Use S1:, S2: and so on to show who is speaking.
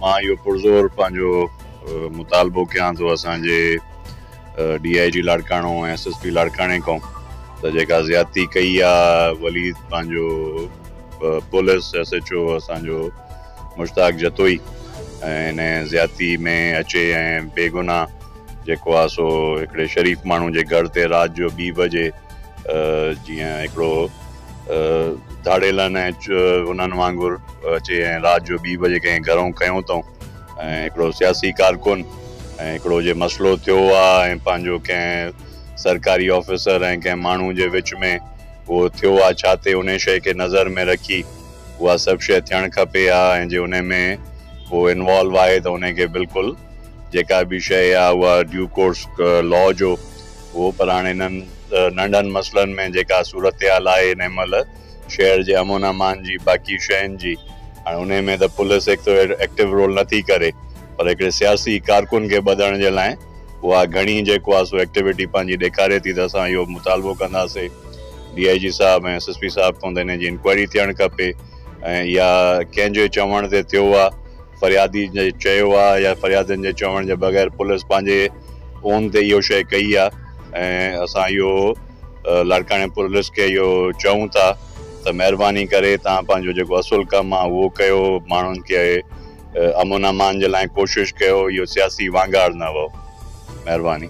S1: مان اهو پرزور پنهنجو مطالبو ڪيان ٿو اسان جي D I G Larkana ۽ S S P لاڙڪاڻي کان ته جيڪا زيادتي ڪئي آ وليد پنهنجو پوليس ايس ايچ او اسان جو مشتاق جتوئي ۽ ان زيادتي ۾ اچي ۽ بيگناهه جيڪو آ سو هڪڙي شريف ماڻهو جي گهر تي رات جو ٻي بجي جيئن هڪڙو ڌاڙيلن ۽ انهن وانگر اچي ۽ رات جو ٻي بجي ڪنهن گهرئون ڪيون اٿئون ۽ هڪڙو سياسي ڪارڪن ۽ هڪڙو جي مسئلو ٿيو آ ۽ پنهنجو ڪنهن سرڪاري آفيسر ۽ ڪنهن ماڻهو جي وچ ۾ اهو ٿيو آ ڇا تي انهي شئي کي نظر ۾ رکي اها سڀ شئي ٿيڻ کپي آ ۽ جي انهي ۾ ڪو انوالو آهي ته انهي کي بلڪل جيڪا به شئي آ اها ڊيو ڪورس لا جو هو پر هاڻ انهن ننڍن مسئلن ۾ جيڪا صورتحال آهي انهي مهل شهر جي امن امان جي باقي شين جي هاڻ انهي ۾ ته پوليس هڪ ته ايڪٽو رول نه ٿي ڪري پر هڪڙي سياسي ڪارڪن کي ٻڌڻ جي لاء اها گهڻي جيڪو آهي سو ايڪٽيوٽي پنهنجي ڏيکاري ٿي ته اسان اهو مطالبو ڪنداسي ڊي آئي جي صاحب ۽ ايس ايس پي صاحب کان ته انهي جي انڪوائري ٿيڻ کپي ۽ اها ڪنهن جي چوڻ تي ٿيو آهي فريادي جي چيو آهي يا فريادين جي چوڻ جي بغير پوليس پنهنجي اون تي اهو شيء ڪئي آهي ۽ اسان اهو لاڙڪاڻي پوليس کي اهو چئون ٿا ته مهرباني ڪري توهان پنهنجو جيڪو اصل ڪم آهي اهو ڪيو ماڻهن کي امن امان جي لاء ڪوشش ڪيو اهو سياسي وانگاڙ نه هئو مهرباني.